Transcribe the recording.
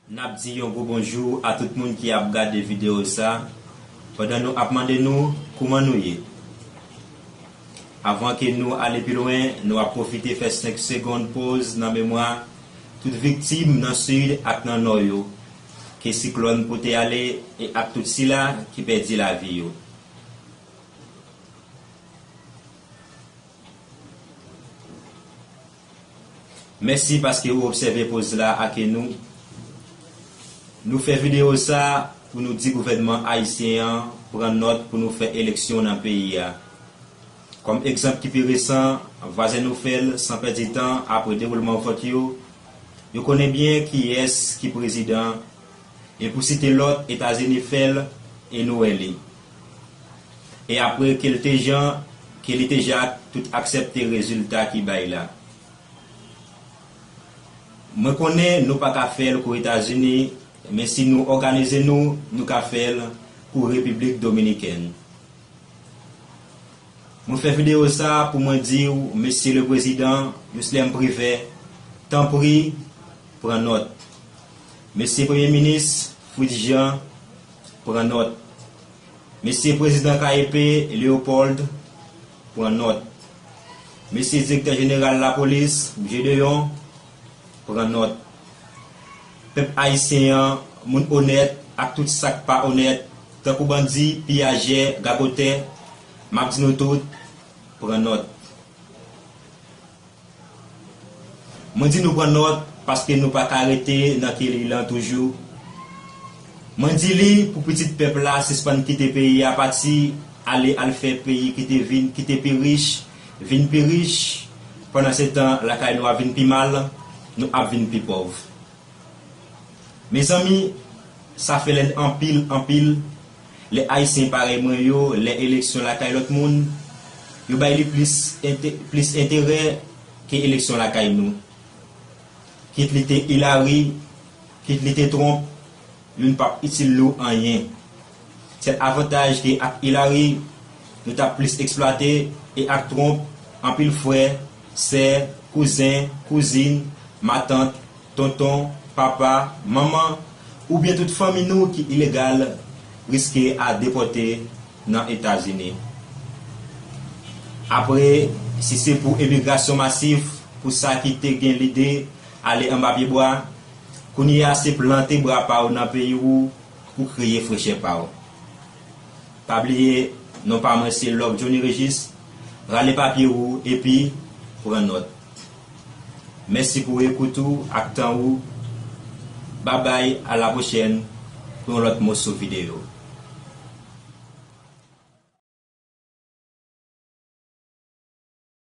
Nap di yon gwo bonjou a tout moun ki ap gade video sa pandan nou ap mande nou kouman nou ye avan ke nou ale pi lwen nou ap pwofite fè 5 segond poz nan memwa tout viktim nan sid ak nan nò yo ke siklòn pote ale e ak tout sila ki pèdi lavi yo. Mèsi paske ou obsève poz la ak nou. Nou fè videyo sa pou nou di gouvènman ayisyen an pran nòt pou nou fè eleksyon nan peyi a. Kòm egzanp ki pi resan, vwazen nou fè l san pèdi tan apre dewoulman vòt yo, yo konnen byen kiyès ki prezidan, e pou site lòt Etazini fè l e nou wè li. E apre ke l te jan ke li te ja tout aksèpte rezilta ki bay la. Mwen konnen nou pa ka fè l kou Etazini, men si nou òganize nou, nou ka fè l kou Repiblik Dominikèn. Mwen fè videyo sa a pou mwen di w, Mesye le Prezidan Jocelerme Privert, tanpri, pran nòt. Mesye Premye Minis Fritz Jean, pran nòt. Mesye Prezidan KEP, Leopold, pran nòt. Mesye Direktè Jeneral Lapolis, Gedeon, pran nòt. Pèp Ayisyen an, moun onèt ak tout sa k pa onèt, tankou bandi, piyajè, gagotè, m ap di nou tout, pran nòt. Mwen di nou pran nòt paske nou pa ka rete nan ke li lan toujou. Mwen di li pou pitit pèp la sispann kite peyi a pati ale al fè peyi ki te vin ki te pi rich vin pi rich pandan se tan lakay nou ap vin pi mal, nou ap vin pi pòv. Mezanmi sa fè lèn anpil anpil. Lè Ayisyen parèy mwen yo, lè eleksyon lakay lòt moun, yo bay li plis plis enterè ke eleksyon lakay nou. Kit li te Hillary, kit li te Trump, youn pap itil nou anyen. Sèl avantaj ke ak Hillary, nou tap plis eksplwate, e ak Trump, anpil frè, sè, kouzen, kouzin, matant, tonton, papa, manman, oubyen tout fanmi nou ki ilegal riske a depòte nan Etazini. Apre, si se pou emigrasyon masif pou sa ki te gen lide ale anba pyebwa, kounye a se plante bra pa w nan peyi ou pou kreye frechè pa w. Pa bliye, non pa mwen se Love Johnny Régis, rale papye ou epi pran nòt. Mèsi pou ekout ou ak tan ou Babay a la pwochèn pou yon lòt moso videyo.